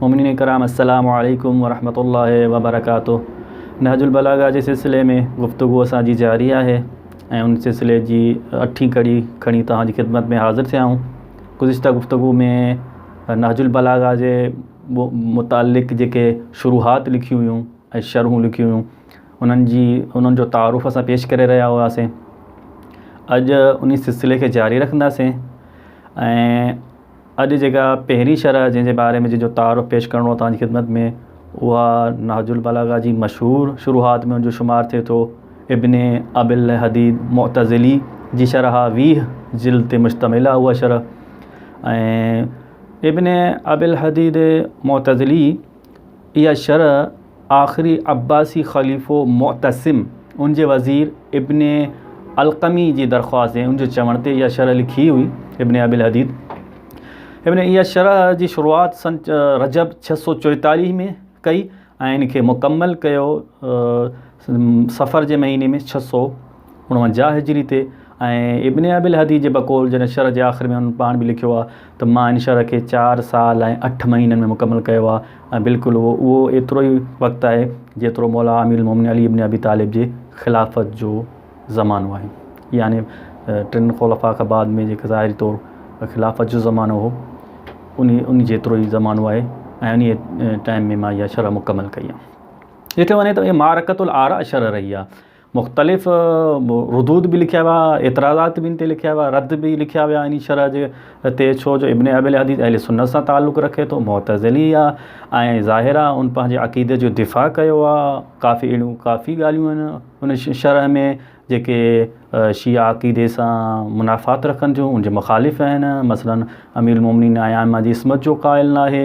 مومنين ڪرام السلام عليڪم ورحمة الله وبرڪاته نهج البلاغه جي سلسلي ۾ گفتگو اسان جي جاري آهي ۽ ان سلسلي جي اٺين ڪڙي کڻي توهان جي خدمت ۾ حاضر ٿيا آهيون گذشته گفتگو ۾ نهج البلاغه جي متعلق جيڪي شروحات لکيون هيون ۽ شرحون لکيون هيون انهن جي انهن جو تعارف اسان پيش ڪري رهيا هئاسين اڄ ان سلسلي کي جاري رکنداسين ۽ اڄ جيڪا پهرين شرح جنهن جي باري ۾ جنهن جو تعارف پيش ڪرڻو آهي توهان جي خدمت ۾ اها نهج البلاغه جي مشهور شروحات ۾ ان جو شمار ٿئي ٿو ابن ابي الهديد معتزلي جي شرح ويهه جلد تي مشتمل آهي اها شرح ۽ ابن ابي الهديد معتزلي اها شرح آخري عباسي خليفو معتصم ان جي وزير ابن القمي جي درخواست ۽ ان جي چوڻ تي اها شرح لکي هئي ابن ابي الحديد ابن اها شرح جي شروعات سن رجب ڇهه سؤ چوئيتاليهه ۾ ڪئي ۽ ان کي مڪمل ڪيو صفر جي مهيني ۾ ڇهه سؤ اڻونجاهه هجري تي ۽ ابن ابي الهدي جي بقول جڏهن شرح جي آخر ۾ هن پاڻ به لکيو آهي ته مان ان شرح کي چار سال ۽ اٺ مهينن ۾ مڪمل ڪيو آهي ۽ بلڪل اهو اهو ايترو ئي وقت آهي جيترو مولا امير المومنين علي ابن ابي طالب جي خلافت جو زمانو آهي يعني ٽن خلفاء کان بعد ۾ جيڪي ظاهري طور خلافت جو زمانو هو ان ان جيترو ئي زمانو آهي ۽ ان ٽائم ۾ مان اها شرح مڪمل ڪئي آهي ڏٺو وڃي ته اهي معرڪة الاراءشر رهي آهي. مختلف ردود به لکيا ويا، اعتراضات به ان تي لکيا ويا، رد به لکيا ويا انهي شرح جي تي ڇو جو ابن ابي العدي اهل سنت سان تعلق رکي ٿو، معتزلي آهي ۽ ظاهر آهي ان پنهنجي عقيدي جو دفاع ڪيو آهي. ڪافي اهڙيون ڪافي ڳالهيون آهن ان شرح ۾ جيڪي شيعه عقيدي سان منافات رکن ٿيون، ان جي مخالف آهن. مثلاً امير المومنين ۽ ائمه جي عصمت جو قائل ناهي.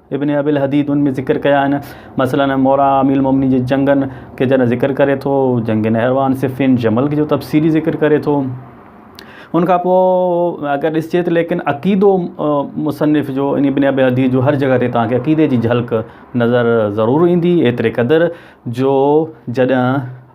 ابن ابي الحديد ان ۾ ذڪر ڪيا آهن، مثلاً مورا امير المؤمنين جي جنگن کي جڏهن ذڪر ڪري ٿو، جنگ نهروان، صفين، جمل جو تفصيلي ذڪر ڪري ٿو. ان کان پوء اگر ڏسجي ته ليڪن عقيدو مصنف جو ان ابن ابي الحديد جو هر جڳهه تي توهان کي عقيدي جي جهلڪ نظر ضرور ايندي ايتري قدر جو جڏهن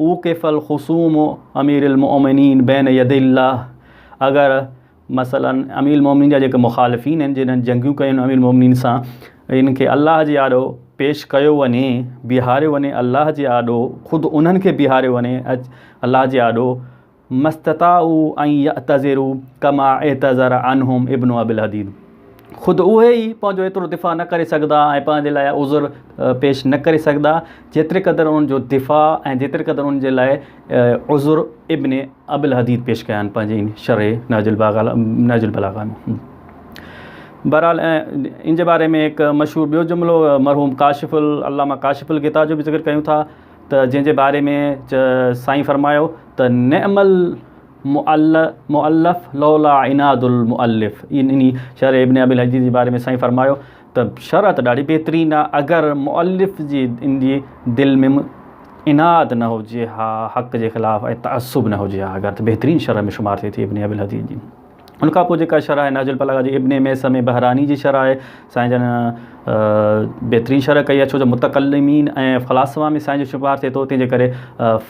اوقف الخصوم امير المؤمنين بين يدي الله اگر مثلا امير المؤمنين جا جيڪي مخالفين آهن جنهن جنگيون ڪيون آهن امير المؤمنين سان ان کي الله جي آڏو پيش ڪيو وڃي بيهاريو وڃي الله جي آڏو خود انهن کي بيهاريو وڃي الله جي آڏو ماستطاعوا ان يعتذروا ڪما اعتذر عنهم ابن ابي الحديد خود اهي ئي پنهنجو ايترو دفاع نه ڪري سگهندا ۽ پنهنجي لاء عذر پيش نه ڪري سگهندا جيتري قدر انهن جو دفاع ۽ جيتري قدر انهن جي لاء عذر ابن ابي الحديد پيش ڪيا آهن پنهنجي ان شرح نهج البلاغه ۾ بهرحال ان جي باري ۾ هڪ مشهور ٻيو جملو مرحوم ڪاشف العلامه ڪاشف الغطا جو به ذڪر ڪيون ٿا ته جنهن جي باري ۾ سائين فرمايو ته نعم المؤلف لولا عناد المؤلف يعني شرح ابن ابي الحجي جي باري ۾ سائين فرمايو ته شرح ته ڏاڍي بهترين آهي اگر مؤلف جي ان جي دل ۾ عناد نه هجي ها حق جي خلاف ۽ تعصب نه هجي ها اگر ته بهترين شرح ۾ شمار ٿئي ٿي ابن ابي الحجي جي ان کان پوء جيڪا شرح آهي نهج البلاغه جي ابن ميسم بحراني جي شرح آهي سائين جن بهترين شرح ڪئي آهي ڇو جو متڪلمين ۽ فلاسفا ۾ سائين جو شمار ٿئي ٿو تنهن جي ڪري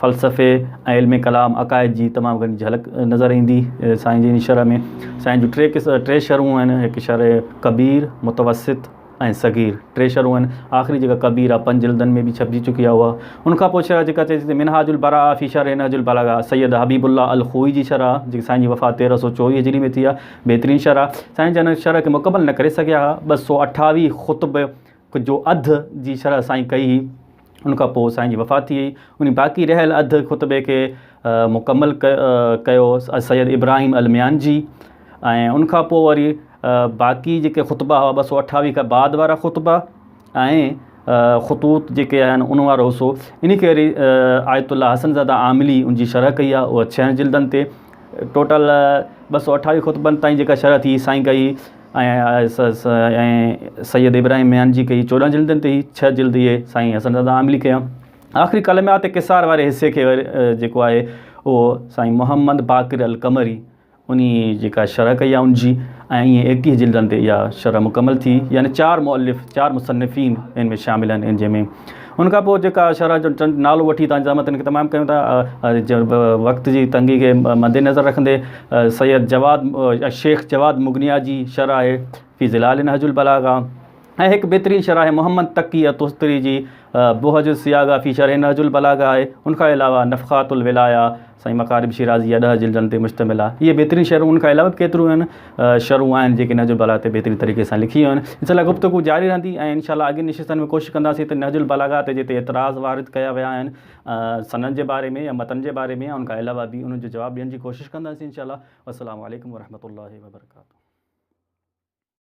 فلسفي ۽ علم ڪلام عقائد جي تمام گهڻي جهلڪ نظر ايندي سائين جي ان شرح ۾ سائين جون ٽي ٽي شرحون آهن هڪ شرح ڪبير متوسط ۽ صغير، ٽي شرحون آهن. آخري جيڪا ڪبير آهي، پنج جلدن ۾ به ڇپجي چڪي آهي اها. ان کان پوء شرح جيڪا چئجي ٿي منهاج البراءه في شرح نهج البلاغه، سيد حبيب الله الخوئي جي شرح آهي، جيڪي سائين جي وفات تيرهن سؤ چوويهه هجري ۾ ٿي آهي. بهترين شرح آهي. سائين جن ان شرح کي مڪمل نه ڪري سگهيا ها. ٻه سؤ اٺاويهه خطبه جو اڌ جي شرح سائين ڪئي هئي. ان کان پوء سائين جي وفات ٿي وئي. انهي باقي رهيل اڌ خطبي کي مڪمل ڪيو سيد ابراهيم الميانجي ۽ ان کان پوء وري باقي جيڪي خطبا هئا ٻه سؤ اٺاويهه کان بعد وارا خطبا ۽ خطوط جيڪي آهن ان وارو حصو انهي کي وري آيت الله حسن زاده عاملي ان جي شرح ڪئي آهي اها ڇهن جلدن تي ٽوٽل ٻه سؤ اٺاويهه خطبن تائين جيڪا شرح ٿي سائين ڪئي ۽ سيد ابراهيم ميان جي ڪئي چوڏهن جلدن تي هي ڇهه جلد اهي سائين حسن رضا عاملي ڪيا آخري ڪلميات قصار واري حصي کي جيڪو آهي اهو سائين محمد باقر القمري انهي جيڪا شرح ڪئي آهي ان جي ۽ ايئن ايڪٽيهه جلدن تي اها شرح مڪمل ٿي يعني چار مؤلف چار مصنفين ان ۾ شامل آهن ان جنهن ۾ ان کان پوء جيڪا شرح جو چند نالو وٺي تنهنجي زحمتن کي تمام ڪيون ٿا وقت جي تنگي کي مدنظر رکندي سيد جواد شيخ جواد مغنيا جي شرح آهي في ظلال نهج البلاغه ۽ هڪ بهترين شرح آهي محمد تقي تستري جي بهج الصياغه في شرح نهج البلاغه آهي ان کان علاوه نفخات الولايه سائين مقارب شيرازيء جا ڏهه جلدن تي مشتمل آهي. هيء بهترين شرحون ان کان علاوه به ڪيتريون شرحون آهن جيڪي نهج البلاغه تي بهترين طريقي سان لکي ويون آهن. ان سلسله گفتگو جاري رهندي ۽ ان شاء الله اڳين نشستن ۾ ڪوشش ڪنداسين ته نهج البلاغه تي جتي اعتراض وارد ڪيا ويا آهن سند جي باري ۾ يا متن جي باري ۾ يا ان کان علاوه به انهن جو جواب ڏيڻ جي ڪوشش ڪنداسين ان شاء الله والسلام عليڪم ورحمة الله وبرڪاته.